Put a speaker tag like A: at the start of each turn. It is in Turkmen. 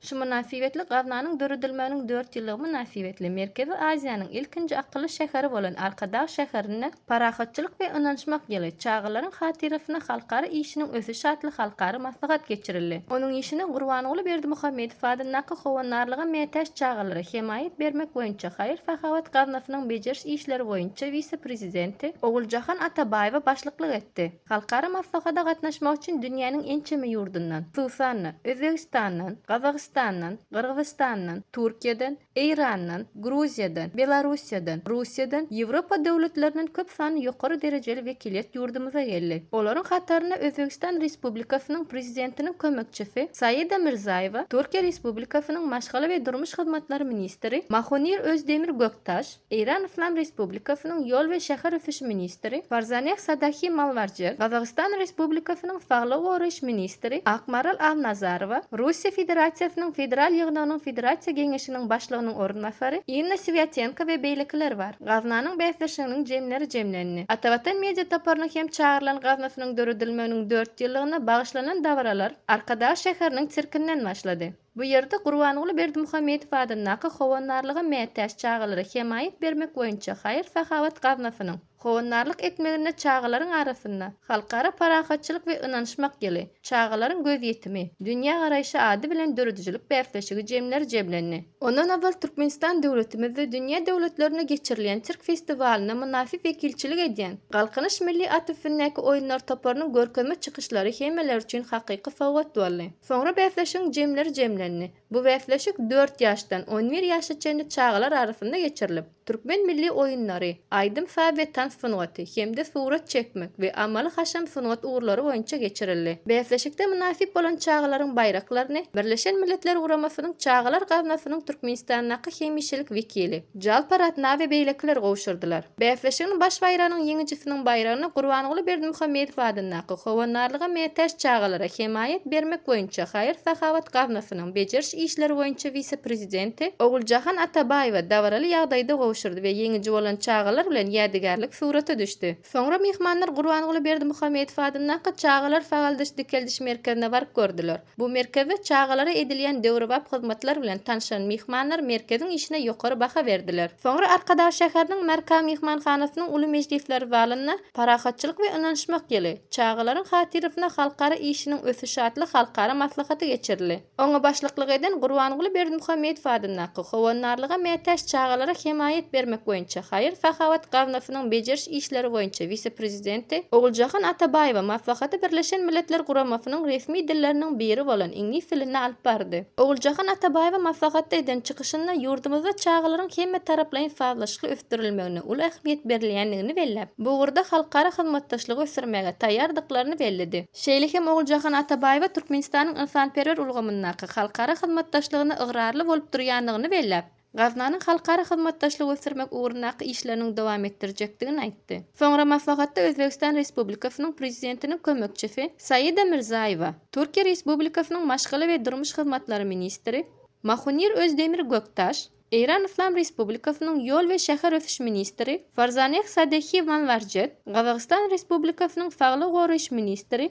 A: Şu mynasybetli gaznanyň döredilmeginiň dört ýyllygy mynasybetli Merkezi Aziýanyň ilkinji akylly şäheri bolan Arkadag şäherinde Parahatçylyk we ynanyşmak ýyly, Çagalaryň hatyrasyna halkara işiniň ösüşi atly halkara maslahat geçirildi. Onuň işine Gurbanguly Berdimuhamedow adyndaky Howandarlyga mätäç çagalara hemaýat bermek boýunça haýyr-sahawat gaznasynyň bejeriş işleri boýunça wise-prezidenti Oguljahan Atabaýewa başlyklyk etdi. Halkara maslahata gatnaşmak üçin dünýäniň ençeme ýurdundan, hususan-da, Özbegistandan, Gazagystandan, Gyrgyzystandan, Türkiýeden, Eýrandan, Gruziýadan, Belarussiýadan, Russiýadan, Ýewropa döwletlerinden köp sanly ýokary derejeli wekiliýet ýurdumyza geldi. Olaryň hatarynda Özbegistan Respublikasynyň Prezidentiniň kömekçisi Saida Mirzaýewa, Türkiýe Respublikasynyň Maşgala we durmuş hyzmatlary ministri Mahonir Özdemir Göktaş, Eýran Yslam Respublikasynyň ýol we şäher ösüşi ministri Farzaneh Sadahi Malwarjer, Gazagystan Respublikasynyň saglygy goraýyş ministri Akmaral Al-Nazarowa, Russiýa Federasiýasynyň Federal Ýygnagynyň Federasiýa Geňeşiniň Başlygynyň orunbasary Inna Swýatenko we beýlekiler bar. Gaznanyň bäsdeşliginiň jemleri jemlendi. Atavatan media toparynyň hem çagyrylan gaznasynyň döredilmeginiň dört ýyllygyna bagyşlanan dabaralar Arkadag şäheriniň sirkinden başlady. Bu ýerde Gurbanguly Berdimuhamedow adyndaky Howandarlyga mätäç çagalara hemaýat bermek boýunça haýyr-sahawat gaznasynyň howandarlyk etmeginde çagalaryň arasynda Halkara parahatçylyk we ynanyşmak ýyly, Çagalaryň gözýetimi, dünýägaraýşy ady bilen döredijilik bäsleşigi jemleri jemlendi. Ondan ozal Türkmenistan döwletimizde dünýä döwletlerinde geçirilýän sirk festiwalyna mynasyp wekilçilik edýän Galkynyş milli at üstündäki oýunlar toparynyň görkezme çykyşlary hemmeler üçin hakyky sowgat boldy. Soňra bäsleşigiň jemleri jemlendi. Bu bäsleşik dört ýaşdan on bir ýaşa çenli çagalar arasynda geçirilip, türkmen milli oýunlary, aýdym-saz we tans sungaty hem-de surat çekmek we amaly-haşam sungat ugurlary boýunça geçirildi. Bäsleşikde mynasyp bolan çagalaryň baýraklaryny Birleşen Milletler Guramasynyň Çagalar gaznasynyň Türkmenistandaky hemişelik wekili, Jalpar atna we beýlekiler gowşurdylar. Bäsleşigiň baş baýragynyň ýeňijisiniň baýragyny Gurbanguly Berdimuhamedow adyndaky Howandarlyga mätäç çagalara hemaýat bermek boýunça haýyr-sahawat gaznasynyň bejeriş işleri boýunça wise-prezidenti Oguljahan Atabaýewa dabaraly ýagdaýda gowşurdy we ýeňiji bolan çagalar bilen ýädygärlik surata düşdi. Soňra myhmanlar Gurbanguly Berdimuhamedow adyndaky Çagalar sagaldyş-dikeldiş merkezine baryp gördüler. Bu merkezde çagalara edilýän döwrebap hyzmatlar bilen tanşan myhmanlar merkeziň işine ýokary baha berdiler. Soňra Arkadag şäheriniň Marka myhmanhanasynyň uly mejlisler zalynda Parahatçylyk we ynanyşmak ýyly, çagalaryň hatyrasyna halkara işiniň ösüşi atly halkara maslahaty geçirildi. Oňa başlyklyk eden Gurbanguly Berdimuhamedow adyndaky Howandarlyga mätäç çagalara hemaýat bermek boýunça haýyr-sahawat gaznasynyň bejeriş işleri boýunça wise-prezident, Prezidenti Oguljahan Atabaýewa maslahaty Birleşen Milletler Guramasynyň resmi dilleriniň biri bolan iňlis dilinde alyp bardy. Oguljahan Atabaýewa maslahatda eden çykyşynda ýurdumyzda çagalaryň hemmetaraplaýyn sazlaşykly ösdürilmegine uly ähmiýet berilýändigini belläp, bu ugurda halkara hyzmatdaşlygy ösdürmäge taýýardyklaryny belledi. Şeýle hem Oguljahan Atabaýewa Türkmenistanyň ynsanperwer ulgamyndaky halkara hyzmatdaşlygyna ygrarly bolup durýandygyny belläp, gaznanyň halkara hyzmatdaşlygy ösdürmek ugrundaky işleriniň dowam etdirjekdigini aýtdy. Soňra maslahatda Özbegistan Respublikasynyň Prezidentiniň kömekçisi Saida Mirzaýewa, Türkiýe Respublikasynyň Maşgala we durmuş hyzmatlary ministri Mahunir Özdemir Göktaş, Eýran Yslam Respublikasynyň ýol we şäher ösüş ministri Farzaneh Sadehi Manwarjet, Gazagystan Respublikasynyň Saglygy goraýyş ministri